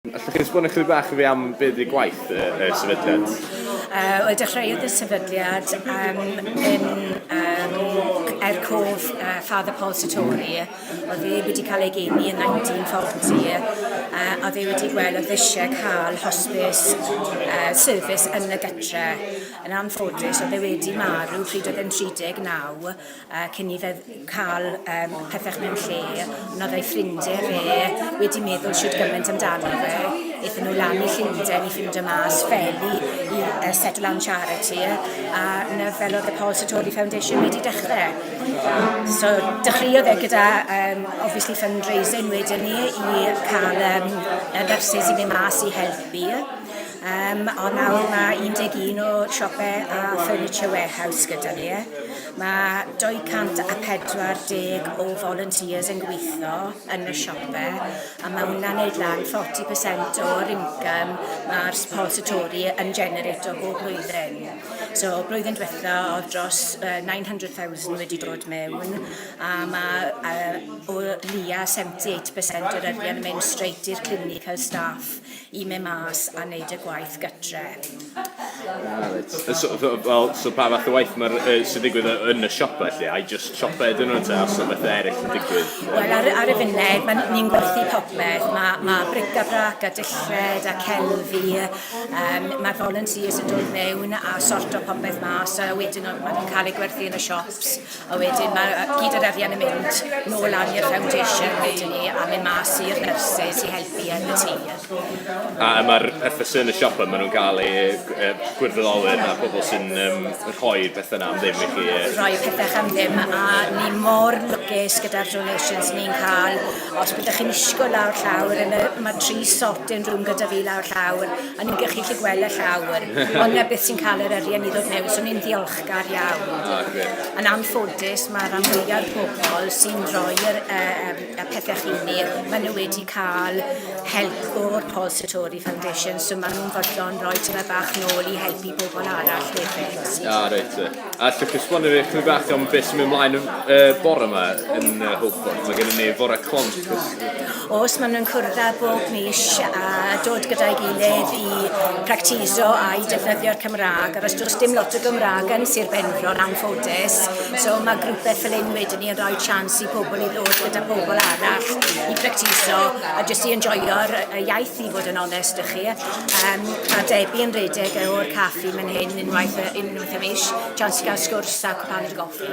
Allwch chi esbonio chydig bach i fi am be ydy gwaith y, y sefydliad? Uh, Wel, dechreuodd y sefydliad um, yn um, er cof uh, Father Paul Satori, oedd e wedi cael ei geni yn 1940, uh, oedd e wedi gweld oedd eisiau cael hospice uh, service yn y gytre. Yn anffodus, oedd e wedi marw pryd oedd e'n 39, a cyn i fe cael um, pethau mewn lle, ond oedd ei ffrindiau fe wedi meddwl siwt gymaint amdano fe, eithon nhw lan i Llundain i ffindio mas fel i, i uh, Settle Down Charity, a na fel oedd y Paul Satori Foundation wedi dechrau. So, dechreuodd e gyda, um, obviously, fundraising wedyn ni i cael um, y nyrsys i fynd mas i helpu. Um, ond nawr mae 11 o siopau a furniture warehouse gyda ni. Mae 240 o volunteers yn gweithio yn y siopau a mae hwnna'n neud lan 40% o'r income mae'r suppository yn generato bob blwyddyn. So blwyddyn diwetha oedd dros uh, 900,000 wedi dod mewn a mae uh, o lia 78% o'r arian yn mynd straight i'r clinical staff i mynd mas a wneud y gwaith gytre. Ah, reit. So, well, so pa fath o waith mae'r uh, sy'n digwydd yn y siop felly? I just siopau ydyn nhw ta os o beth eraill yn digwydd? Wel, ar, ar y funud, mae ni'n gwerthu popeth. Mae ma bric-a-brac a dillred a celfi. Um, mae volunteers yn dod mewn a sort o popeth mas a wedyn mae nhw'n cael ei gwerthu yn y siops. A wedyn mae gyd yr arian yn mynd nôl lan i'r foundation wedyn ni a mynd mas i'r nurses i helpu yn y tŷ. A mae'r pethau sy'n y siop yma, maen nhw'n cael eu e, gwirfoddolwyr a pobl sy'n um, rhoi'r pethau yna am ddim i chi. E. Rhoi pethau am ddim a ni mor lwcus gyda'r donations ni'n cael. Os byddwch chi'n isgo lawr llawr, yn y, mae tri sorting room gyda fi lawr llawr a ni'n gallu chi gweld y llawr. Ond na beth sy'n cael yr arian i ddod mewn, so ni'n ddiolch Gar iawn. Ah, gret. Yn anffodus, mae rhan fwya'r pobl sy'n rhoi'r uh, y pethau chi ni, maen nhw wedi cael help o'r Paul Sartori Foundation, so maen nhw'n fodlon rhoi tyma bach nôl i helpu pobl arall hefyd. Ah, reit. A ti'n cysbon i chi bach am beth sy'n mynd ymlaen uh, bore yma yn uh, Hopeford? Mae gennym ni fore cont. Os maen nhw'n cwrdd â bob mis a dod gyda'i gilydd i practiso a'i defnyddio'r Cymraeg, ac os does dim lot o Gymraeg yn Sir Benfro yn anffodus, so mae grwpau fel hyn wedyn ni yn rhoi chance i pobl i ddod gyda pobl arall i practiso a jyst i enjoyo'r iaith i fod yn onest â chi. Um, mae Debbie yn redeg o'r caffi mae'n hyn unwaith, unwaith y mis, chance i gael sgwrs a cwpan o goffi.